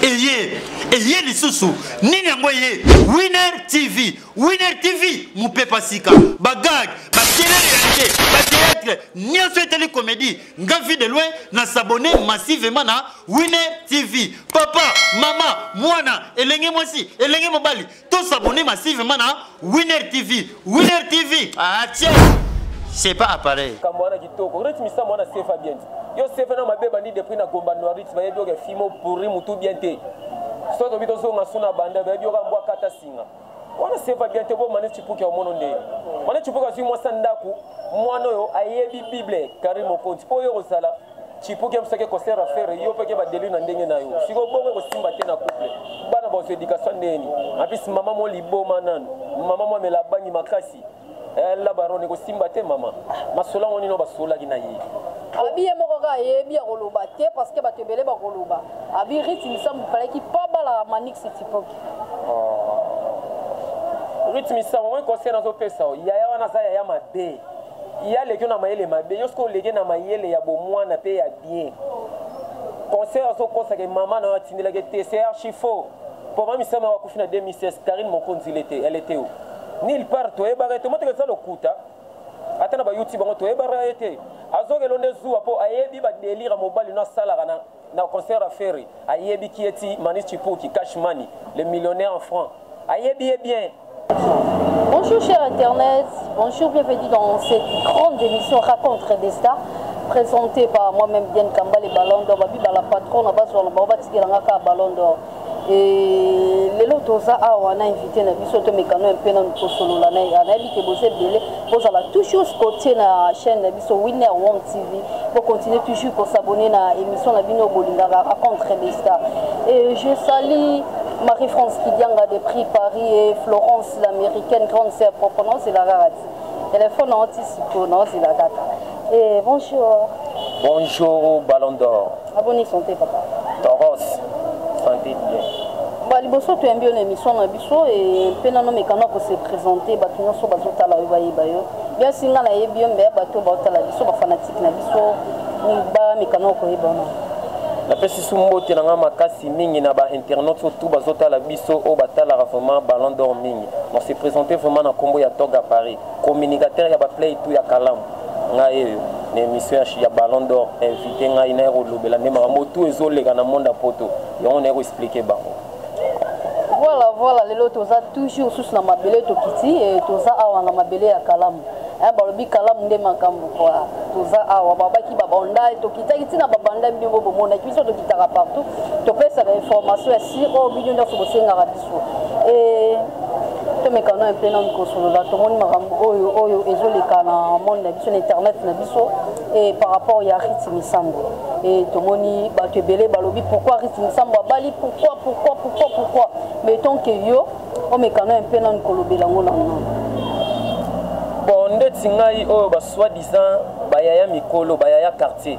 eye eye lisusu nini yango eye winner tv winner tv mopepa sika bagag bakelele ya te bateatre nyonso etali komedi nga vie de loin na sabone massivement na winner tv papa mama mwana elenge mwasi elenge mobali To s'abonner massivement na Winner TV. Winner TV. Ah tiens. C'est pas appareil. Kamwana kitoko. Rich misa mwana sefa bien. Yo sefa na mabe bandi depuis na gomba no rich bayebi oke fimo pourri mutu bien te. So to bito zonga suna banda bayebi oka mbwa kata singa. wana seva bien te bomane cipuki omono nde mane cipuki azwi mwasi ya ndako mwana oyo ayebi bible kari mokonzi mpo oyo kozala chipuki abisaki concert ya fere yo peke badeli na ndenge na yo siko bongo ekosimba te na couple bana baoso edikasio ndeni apisi mama mo liboma nanu mama mo amela bangi makasi eh, la barone ekosimba te mama masolo yango nino basolaki na ye abi ye moko kaka ayebi akoloba te parce que bato ebele bakoloba abi rite misambo palaki pa bala manix tipoki oh. rite misambo moi conseil nazopesa yaya wana aza yaya mabe ye aleki yo na mayele mabe yo soki oleki na mayele ya bomwana mpe ya bien conseil azo kosaka mama na yo atindelaki te c'est archi faux mpo mama misama yango akufi na 2016 karine mokonzi ile te ele te o nil part toyebaka ete moteka eza lokuta ata na bayoutube yango toyebaka ye te azokelo nde zuwa mpo ayebi badelire mobali no asalaka na na concert ya ferre ayebi ki eti manis chipuki cash money le millionnaire en franc ayebi ye bien Bonjour cher Internet, bonjour, bienvenue dans cette grande émission Racontre des Stars présentée par moi-même Diane Kamba, les Ballon d'Or, Babi Bala Patron, Nabazouana, Baoba Tikelangaka, Ballon d'Or. Et lelo toza awa na invité na biso to mekano un peu na kosolola na ya nayebi ke boza ebele bozala toujours scotché na chaîne na biso Winner One TV pour continuer toujours ko s'abonner na émission na bino bolingaka raconte des stars et je salue Marie-France Kidianga de Prix Paris et Florence l'américaine grande sœur propre non c'est la rarati téléphone anti siko non c'est la data et bonjour bonjour Ballon d'Or Aboni sante papa. Toros sante bien. Ba liboso toyambi yo na émission na biso e mpe nano mekana ko se présenter bato nyonso bazotala yo bayeba yo bien singa nayebi yo mbeya bato baotala biso bafanatike na biso bamekana koyeba na napesi su mbote na ngai makasi mingi na bainternaute surtout bazotala biso oyo batalaka vraiment ballon d'or mingi on se présente vraiment na nkombo ya toga paris communicateur ya ba play tout ya kalamu ngai eyo na émission ya ballon d'or invité ngai naye kolobela nde makambo tout ezoleka na monde ya poto yango naye koexplike bango voilà voilà lelo toza toujours susu na mabele tokiti e, toza awa na mabele ya kalamu eh, balobi kalamu nde makambo kwa toza awa babaki babanda tokitaki ntina babanda bino bomonaki biso tokitaka partout topesaka information ya siro bino nyonso bosengaka biso Et tomekana mpe nanu kosolola tomoni makambo oyo oyo ezoleka na monde na biso na internet na biso e par rapport ya rite misambo e tomoni bato ebele balobi pourquoi rite misambo abali pourquoi pourquoi pourquoi pourquoi mais tant que yo omekana mpe nanu kolobela yango nanu bon ndeti ngai oyo basoi disant bayaya mikolo bayaya quartier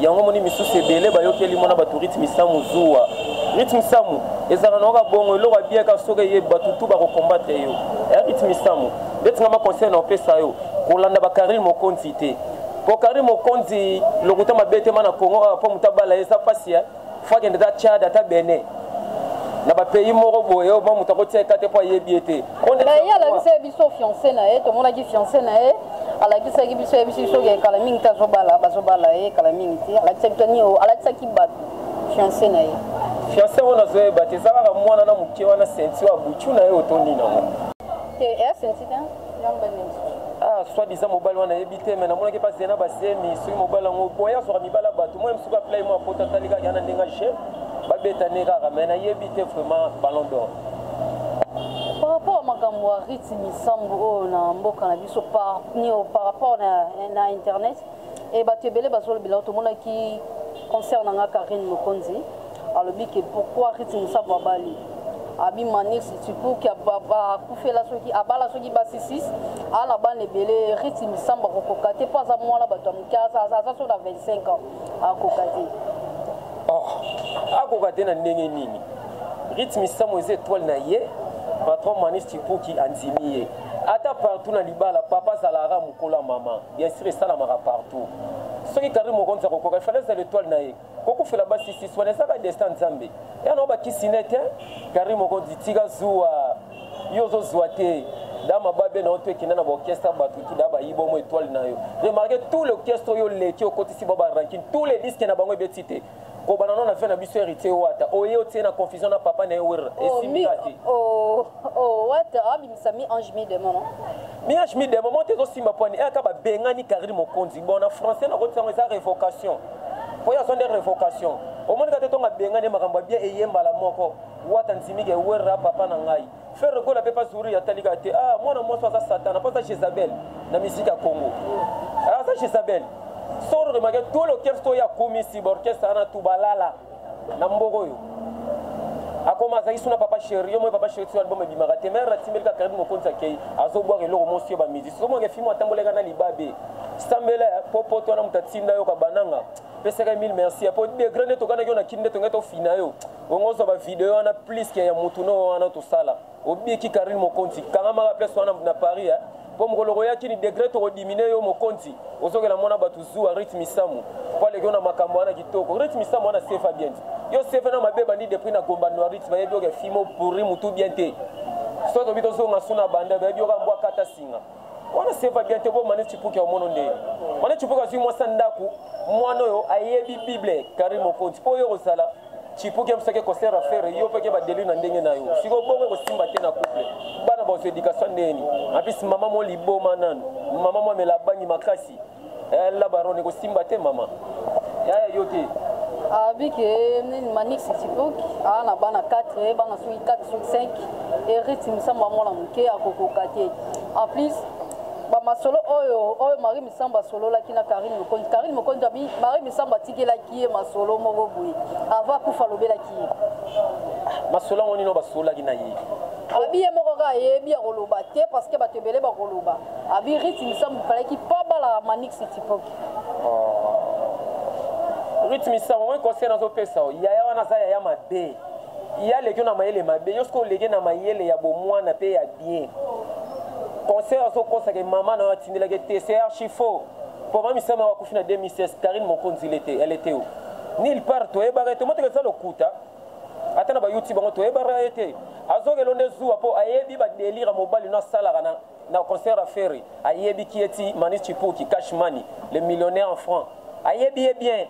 yango moni misusu ebele bayokeli mona bato rythme samu zuwa rythme samu ezalaka na oka bongo eloko abiyaka soki eye bato tu bakokombatre yo ya eh, rythme samu ndeti nga baconseil na opesa yo kolanda bakarine mokonzi te po karine mokonzi lokuta mabe te ma na congo awa po moto abala eza mpasi ya eh. fo akende ata tchad ata bene na bapays moko boye oyo moto akotia eka te mpo ayebi ye te ye alakisaki biso fiance na ye tomonaki fiance na ye alakisaki biso yebisi biso ke kala mingi te azobala bazobala ye kala mingi te alakisaki biso nio alakisaki bato fiance na ye fiance oyo nazoyeba te eza kaka mwana na moke wana senti ya butu na ye otondi nango te eya senti te ah soit disant mobali wana ayebi te me namonaki mpa zena basemi soki mobali yango boye azwaka mibala bato moi mosuku aplai mo apota atali kaka yana ndenge je babeta ne kaka me nayebi te vraiment ballon d'or par rapport ya makambo ya rite misambo oyo na mboka na biso par rapport na internet Et bato ebele bazolobela yo tomonaki concert na nga Karine Mokonzi alobi ke pourquoi Ritz Musabu abali abi manix tipuki akufela soki abala soki basi 6 aa na bana ebele Ritz Misamu akokoka te mpo aza mwana bato ya moke aza so na 25 ans akoka te akoka te na ndenge nini Ritz Misamu eza étoile na ye patron manix tipuki andimi ye ata partout na libala papa zalara mokolo ya mama Bien sur esalamaka partout soki carine mokonzi akokoka ifale azala etoile na ye kokufela basi sisi wana ezaka destin nzambe yanao bakisi ne te carine mokonzi tika zuwa yo ozozwa te dama babe na yo to ekenda na baorchestre bato tuda bayiba omo etoile na yo remarke tout l'orchestre oyo oleki okotisi ba barankin tout les disque na bango ebeti te kobana no na vie na biso héritier wata oye otie na confusion na papa na ye werra oh, esimika te oh, oh, wata abimisa mi ange mi demon mi ange mi demon moto ezosimba pwani eyaka babengani carine mokonzi bon na français nakotisango eza révocation mpo ye azo nde révocation omonika te ntongo abengani ye makambo ya bien eye mbala moko wata nzimike werra papa na ngai ferre gola mpe pazuri atali kaka te ah, mwana mwasi aza satana mpo aza jezabel na misiki ya congo ah, aza jezabel soro remake to l'orchestre oyo akomisi baorchestre wana tu balala na mboko oyo akoma azalaki suna papa sheri yo moi papa sheri tiso album ebimaka te mare natimbeli kaka karibi mokonzi akei azobwaka eloko mosi yo bamizisi somonga efimo atambolaka na libabe sambela mpo poto wana moto atinda yo kabananga pesaka mille merci mpo degre nde tokanaki yo na kini nde tongai tofina yo bongo ozwa bavideo wana plus ke ya motu no wana tosala obiki karine mokonzi kangamaka place wana na paris eh? mpo mokolo koyaki ni degre tokodimine yo mokonzi ozokela mona bato zuwa rit misamu mpo aleki yo na makambo wana kitoko rit misamu wana sefa bien te yo sefa na mabe bandi depuis na gomba noirit bayebi yoka fimo pourri motu bien te so tobi tozonga su na banda bayebi yoka mbwa kata singa wana sefa bien te bo mane cipuki ya omono nde mane cipuki azwi mwasi ya ndako mwana oyo ayebi bible kari mokonzi mpo oyo kozala chipuki amsaki concert affaire yo peke badeli na ndenge na yo siko bongo ekosimba te na couple bana baoso éducation ndeni apis mama mo liboma nanu mama mo amela bangi makasi eh, la barone ekosimba te mama yaya yo te abiki eh, nini manix chipuki aa na bana 4 eh, bana soki 4 soki 5 eriti misamba mwana moke akokoka te en plus bamasolo oyo oyo marie misambo asololaki na karine mokonzi karine mokonzi abi marie misambo atikelaki ye masolo moko boye ava akufa alobelaki ye masolo yango nino basololaki na ye abi ye moko kaka yebi ya koloba te parce que bato ebele bakoloba abi rit misambo palaki pa bala manix tipoki oh. rit misambo moi conseil nazopesa yo yaya wana aza yaya mabe ye aleki na mayele mabe yo soki oleki na mayele ya bomwana mpe ya bien conseil azokosaka mama na yo atindelaki te c'est archifaux Mpo mami Sama wakufi na 2016, Carine Mokonzi il était, elle était où? Nulle part toyebaka ye te, moteka eza lokuta. Ata na ba YouTube bango toyebaka ye te. Azokela onde zuwa mpo ayebi ba delire mobali no asalaka na na concert ya Ferry. Ayebi ki eti Mani Chipuki, Cash Money, le millionnaire en francs. Ayebi ye bien.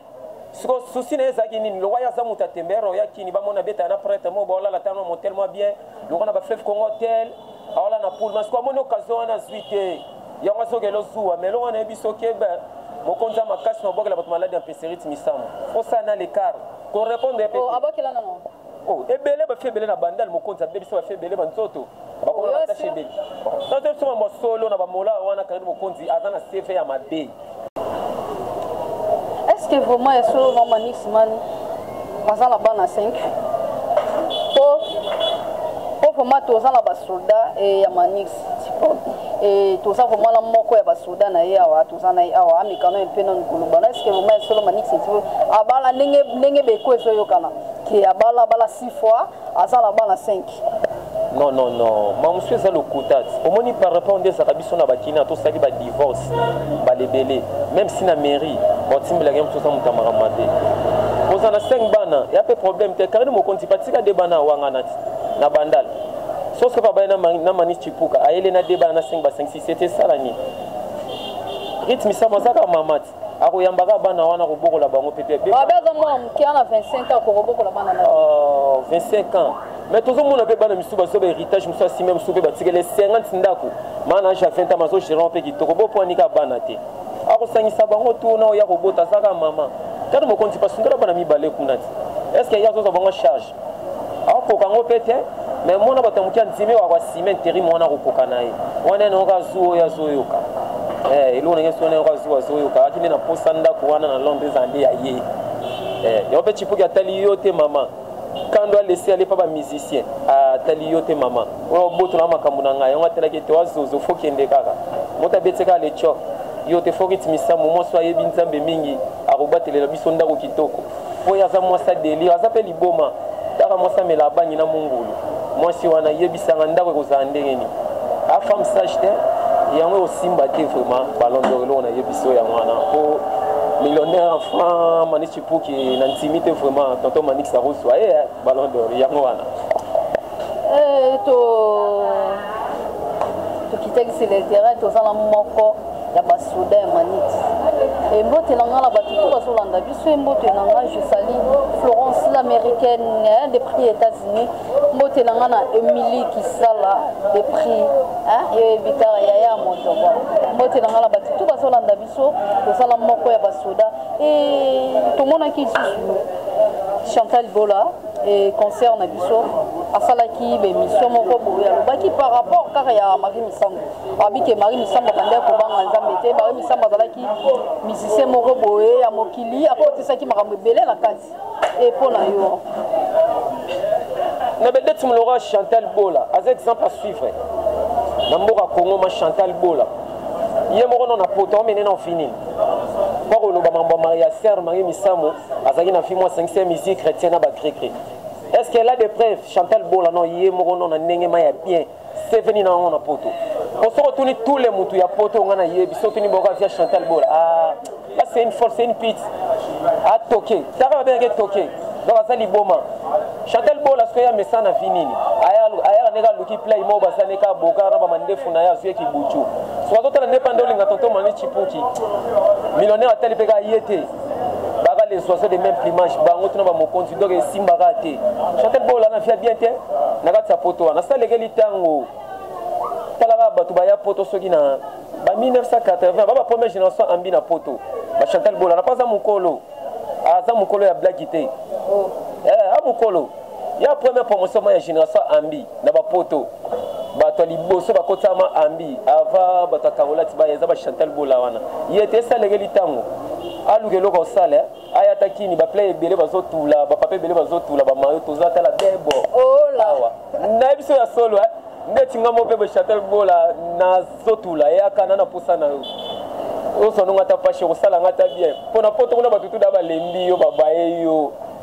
siko susi na ye ezalaki nini lokwa ye aza moto ya tembere oya kini bamona beta na prêtre moko baolala tano motel mwa bien lokwa na bafleve congo hotel aola na poule masiko amoni occasion wana azwi te yango azokela ozuwa ma eloko wana yebi soki ebe mokonzi ya makasi na obwakela bato maladi ya mpeserite misamu osala na lecart korepondre ye oh, abwakela nango oh, ebele bafi ebele na bandal mokonzi abebisa bafi ebele banzoto bakoma na batashe ebele nazo biso mambo solo na bamola wana karine mokonzi aza na cv ya mabe est ce que vraiment ya solo na manix man baza na bana 5 po po vraiment toza na basoldat eh, ya manix eh, toza vraiment na moko ya basoda na ye awa toza na ye awa amekano ye mpe nanu kolobana eske vraiment ya solo manix abala ndenge beko ezoyokana ke abala abala six fois aza na bana 5 non non non mamusu eza lokuta omoni par rapport nde ezalaka biso na bakina tosali badivorce mbala ebele même si na mairie batimbelaka ye mosusu aza moto ya makambo mabe oza na 5 bana ya mpe problème te karine mokonzi batika de bana awangana ti na bandal soso pa baye na manis cipuka ayele na de bana na 5 basangisi sete esala nini rythme sama azaka mama ti akoyamba kaka bana wana akobokola bango peut-être babe aza mwana moke ana 25 ans akokobokola bana na 25 ans mais tozomona mpe bana misusu bazo bahéritage mosusu asime mosusu mpe batikele 50 ndako maana age ya 20 ans bazo gérant mpe kitoko bopwani kaka bana te akosangisa bango tu na oya kobota azaka mama tata mokonzi pasundola bana mibale kuna ti est ce que ye azozwa bango charge akokoka yango mpe te me mona bato ya moke andimi waka sima interim wana akokoka na ye wana ene oka zu oyo azoyoka eh, eloko ndenge sona oka zu azoyoka akende na posa ndako wana na londre eza nde ya ye eh, yango mpe chipuki atali yo te mama kando alesi ale mpa bamusicien atali yo te mama oyo obotola makambo na ngai yango atalaki ete wazozo fokende kaka moto abeti kaka lecoke yo te fokitimisamu mwasi ayebi nzambe mingi akobatelela biso ndako kitoko Boye aza mwasi ya delire, aza mpe liboma. Kaka mwasi amela abangi na mungulu. Mwasi wana yebisanga ndako ekozala ndenge nini? A femme sage te, yango ekosimba te vraiment ballon d'or eloko nayebisi yo yango wana mpo millionnaire en franc mani chipuki na ntimi te vraiment tonton manix akozwa ye eh, ballon d'or yango wana eh, to tokitakisi letera toza na moko ya ba soda ya manite embote na ngai na bato to bazolanda biso embote na ngai je sali florence l'américaine hein, de prix états-unis mbote na ngai na emili kisala de prix hein, yo yebi kaka yaya ya moto bwa mbote na ngai na bato to bazolanda biso tozala moko ya basoda e tomonaki lisusu chantal bola e concert na biso asalaki bemission moko boye alobaki par rapport kaka ya marie misango Alobi ke Marie Misamu abandaki kobanga Nzambe te. Marie Misamu azalaki musicien moko boye ya mokili, akotisaki makambo ebele na kati. E mpo na yo? Na Bedette Mulora, Chantal Bola aza exemple à suivre na mboka Congo. Ma Chantal Bola ye moko no na poto amene na ofini mpo koloba mambo ya maria serre marie misamu azalaki na fimo asangisi ya musique chrétien na bagreke est ce qu'elle a des preuves chantal bola no ye moko no na ndenge ma ya bien seveni na yango na poto po soki otuni tule motu ya poto ngai nayebi soki otuni boka via chantal bola ah, c'est une force c'est une pite atoke ah, taka babengaki toke donc aza liboma chantal bola soki ya mesa na vi nini ayaka ndenge aluki play moko baza nde kaka boka na bamandefu na ye azwi yeki butu soki azotala nde pande olinga tonto mani chipuki millionnaire atali mpe kaka ye te baka les oiseaux de même plumage bango tuna bamokonzi donc esimbaka te chantel bola na fia bien te na kati ya poto wana salekeli ntango talaka bato baya poto soki na ba 1980 ba ba première génération ambi na poto ba chantel bola na pas aza mokolo aza mokolo ya blaki te eh, amokolo Ya première promotion ma ya generation Ambi na ba poto bato ya liboso bakotisama ambi ava bato ya kangolati baya eza bachantal bola wana ye te esalekeli ntango aluka eloko osala eh? aya ata kini baplay ebele bazotula bapapa ebele bazotula bamayo toza tala bebo awa na biso ya solo eh? ndeti nga mope bachantal bola nazotula eyaka na naposa na yo osononga ata pashe kosala nga ata bien mpo na poto kuna bato tuda balembi yo babaye yo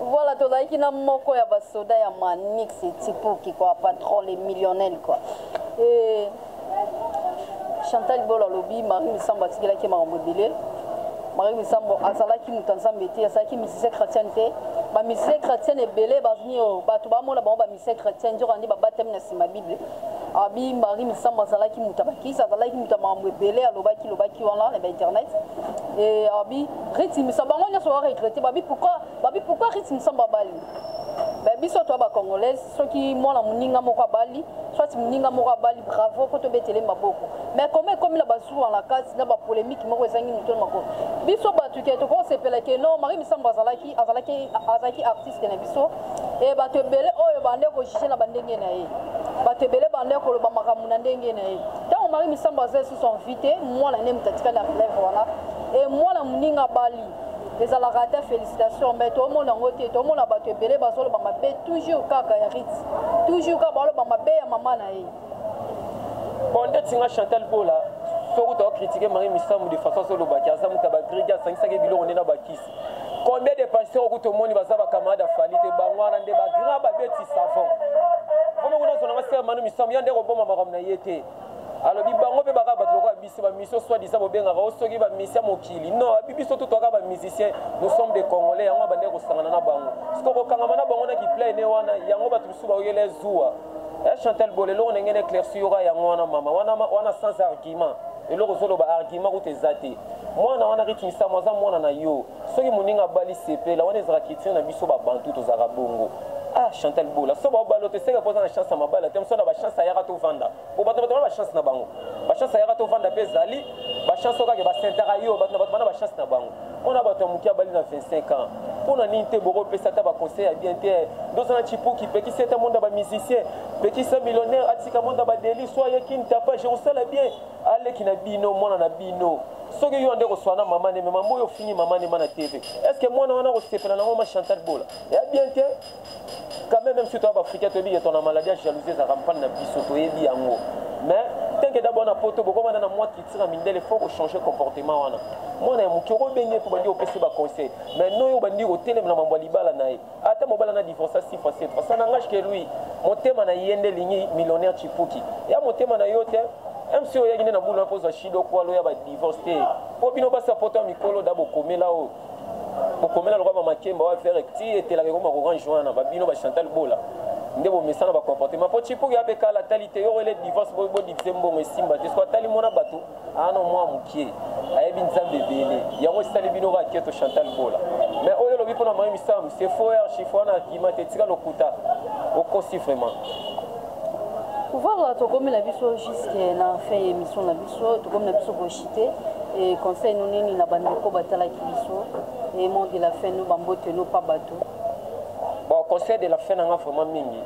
Voilà, tozalaki na moko ya basoda ya Manix Tipoki quoi, patron les millionnaires quoi. Et Chantal Bola lobi Marie Misambo atikelaki makambo ebele. Marie Misambo azalaki moto nzambe te, azalaki musicien chrétien te. Ba musicien chrétien ebele bazini oyo bato bamona bango ba musicien chrétien nzoka nde babatami na nsima Bible. Abi Marie Misambo azalaki moto ya bakisa, azalaki moto ya makambo ebele alobaki lobaki wana na ba internet. Et abi Riti misa bango nyonso ba regrette babi pourquoi babi pourquoi Riti misa babali ba biso to ba congolaise soki mwana muninga moko abali soit muninga moko abali bravo ko to betele maboko mais comme ekomi na bazuwa na kati na ba polemique moko ezangi moto na maboko biso bato ke toko sepela ke non Marie Misambo azalaki azalaki azalaki artiste na biso et bato ebele oyo bande ko juger na bandenge na ye bato ebele bande koloba makambo na ndenge na ye ntango Marie Misambo azali susu invité mwana nde moto atikali na relève wana Et mwana muninga abali ezalaka ata félicitation mais tomona yango te tomona bato ebele bazoloba mabe toujours kaka ya rit toujours kaka baloba mabe ya mama na ye bon ndeti nga chantal bola soki otaka kritike marie misamu de façon azolobaki aza moto ya bagrige asangisaki biloko nde na bakisi combien de pasteur okuti omoni baza bacamarade ya fali te bango wana nde bagrand babeti savon vraimen kuna azonanga sere manu misamu ya nde koboma makambo na ye te alobi bango mpe bakaka bato lokola biso bamisio soit disa bobengaka o soki bamisia mokili non abi biso to toyaka bamusicien nous sommes des congolais yango abandaki kosangana na bango siko kokangama na bango na kiplaine wana yango bato mosusu baoyela zuwa eh, chantal bol eloko ndenge na éclairci yoka yango wana mama wana, wana sans argument eloko ozoloba argument kuta eza te mwana wana ritmisamo aza mwana na yo soki moninga abali sepela wana ezalaka kitino na biso babantu tozalaka bongo ah chantal bola so babalo te seke poza na chance ya mabala te mosala bachance ayaka tovanda po bato bato bana bachance na bango bachance ayaka tovanda mpe ezali bachance okake basentaka yo bato na bato bana bachance na bango mpona bato ya moke abali na 25 ans mpo na nini te bokopesa ata baconseil ya bien te ndoza na chipuki pekisa ete monda bamusicien pekisa millionnaire atika monda badeli so ayeki ntapa jerusala bien a leki na bino mwana na bino soki yo ande koswana na mama neme mama oyo ofingi mama nema na tv est ce que mwana wana akosepela nango ma chantal bola ya bien te quand même même si toya baafricain toyebi ke tona maladie ya jalousie ezalaka mpani na biso toyebi yango mais teke dabord na poto bokomanda na mwa kitira mindele fo kochange comportement wana mwana ya moke okobenge mpo bandi kopesi baconseil mais noyo obandi kotelema na mambo ya libala na ye Ata mobali ana divorca six fois sept fois ça n'engage que lui. Motema na ye nde elingi millionnaire chipuki. Ya motema na yo te. MC oyaki nde na boulot mpo ozwa shido kwalo ya ba divorce te. Mpo bino basi ya poto ya mikolo da bokomela oyo. Bokomela lokola ba makemba wa vere ti etelaka ekoma korange wana ba bino ba Chantal Bola. nde bomesana bacomportement mpo chipuki ape kala atali te yoko ele divorce bodivise mbongo esimba te soki atali mona bato Ano mwa mukie ayebi nzambe ebele yango esali bino ba keto Chantal Bola mais oyo lobi pona mayi misamu c'est faux archive wana argument te tika lokuta okosi vraiment pouvoir tokomi na biso jusque na fin ya émission na biso tokomi na biso kochite e conseil no nini na bandeko batalaki biso e mot de la fin no bambote no pa bato bon conseil de la fin nanga vraiment mingi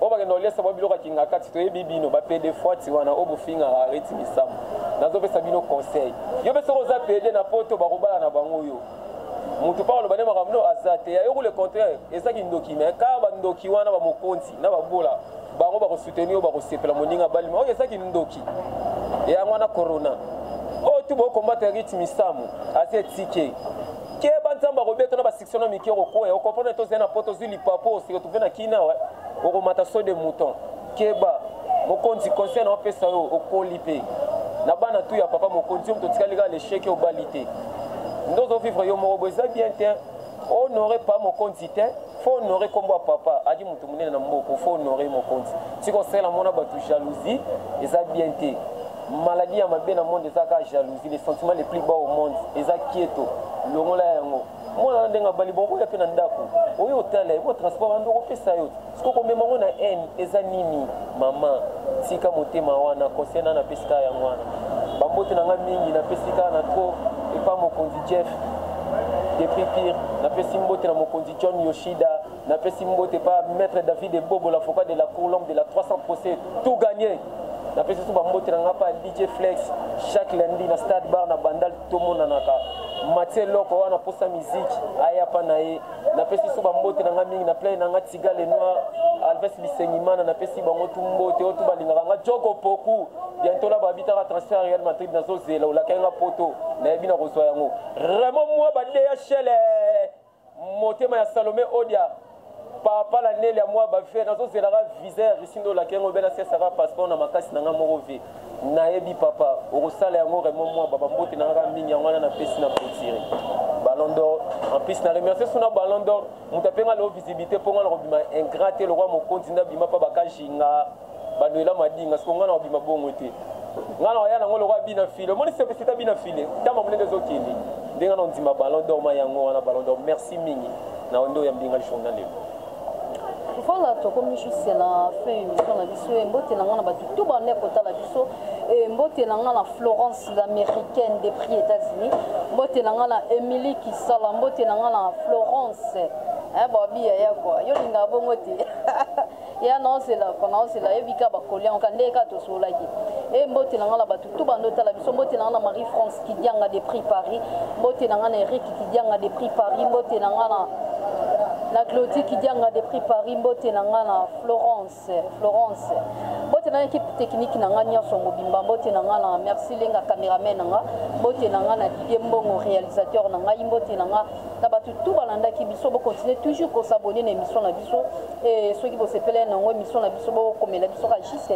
oyo bakenda koliesa bango biloko ya kingakati toyebi bino bapede fwati wana oyo bofingaka areti misamu nazopesa bino conseil yo mpe soki oza pede na poto bakobala na bango yo moto mpo aloba nde makambo no aza te yayoku le contraire eza kindoki me kaka bandoki wana bamokonzi na babola bango bakosoutenir yo bakosepela moninga balima oyo eza kindoki yango wana corona oyo tu bokombata rite misamu aza etike keba nzambe akobeta na basiksio na mike okokwea okomprendre tozali na poto ozwi lipapo oseretrouve na kina awa okomata so de mouton keba mokonzi conseil na opesa yo okoli mpe na bana tu ya papa mokonzi yo moto otikali kaka lecheke obali te nde ozovivre yo moko bo eza bien te honore pa mokonzi te faut honore kombo ya papa adi moto monene na mboko faut honore mokonzi tika osala mona bato jalousie eza bien te maladie ya mabe na monde eza kaka jalousie le sentiment le plus bas au monde eza kieto longola yango mwana na ndenge abali bokoya mpe na ndako oyo otala ye botransport ando okopesa yo siko komema yango na haine eza nini mama tika motema wana conseil na napesi kaka yango wana bambote na ngai mingi napesi kaka na tro epa mokonzi jeff Depuis pire, napesi mbote na mokonzi John Yoshida, napesi mbote pa maître David Ebobo, l'avocat de la cour, l'homme de la 300 procès, tout gagné. napesi so bambote na ngai mpa dj flex chaque lundi na stade bar na bandal tomonanaka matie loko wana mposa miziki aya mpa na ye napesi so bambote na ngai mingi na plai na ngai tiga le noir alves bisengimana napesi bango tu mbote oyo tu balingaka ngai joko poku bientôt là babitaka transfert ya real madrid nazozela olakaki nga poto nayebi na kozwa yango raymond mwa badeya shele motema ya salome odia papa na nele ya mwa bavie nazozelaka visa ya russie nde olakaki yango obena sesaka passeport na makasi na nga moko vie nayebi papa okosala yango raymond mwa babambote na ngaka mingi yango wana napesi na clotire ballon d'or en plus na remercie suna ballon d'or moto ape nga leo visibilité mpo nga na kobima ingrat te lokola mokonzi nde abima mpa bakajinga baluela madinga siko ngai na obima bongo te ngai na oya nango lokola bina file omoni sepesita bina file ntamba monene ezokende ndenge na ondima ballon d'or ma yango wana ballon d'or merci mingi na ondo ya mbinga lishonga lelo voilà tokomi juste na fin émission na biso mbote na ngai na bato to banda kotala biso mbote na ngai na florence l'américaine de prix états-unis mbote na ngai na émilie kisala mbote na ngai na florence babi yaya kua yo lingaka bongo te eya naozela ko naozela yebi ka bakoli yango ka ndenge kaka tosololaki e mbote na ngai na bato tu bando otala biso mbote na ngai na marie france kidianga de prix paris mbote na ngai na eric kidianga de prix paris mbote na ngai na na claudie kidianga de prix paris mbote na ngai na florence florence mbote na ekipe technique na ngai nyonso mobimba mbote na ngai na merci lenga cameraman na ngai mbote na ngai na didie mbongo réalisateur na ngai mbote na ngai na bato tout balandaki biso bo continuer toujours ko s'abonner na émission na biso et soki bo sepela na ngo émission na biso bo komela biso ka juste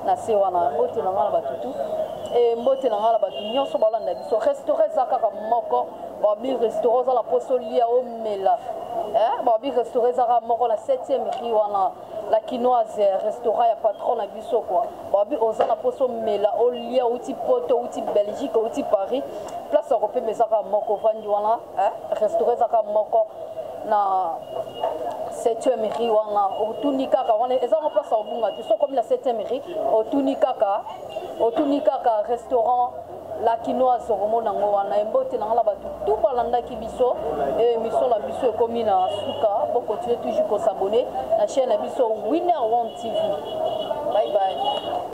na se wana mbote na nga na bato tout et mbote na nga na bato nyonso balanda biso restaurant eza kaka moko babi restaurant oza na poso lia omela eh babi restaurant eza kaka moko na 7e rue wana La kinoise restaurant ya patron na biso quoi babi oza na poso mela olia outi poto outi belgique outi paris place ya kopema eza kaka moko vandi wana restaurant eza kaka moko na septième ri wana otuni kaka wana eza ngo place ya kobunga te soki okomi na septième ri otuni kaka otuni kaka restaurant la kinoise okomona yango wana embote na ngai na bato tu balandaki biso e emission na biso ekomi na suka bokontinue toujours kosabone na chaine na biso winner one tv bye bye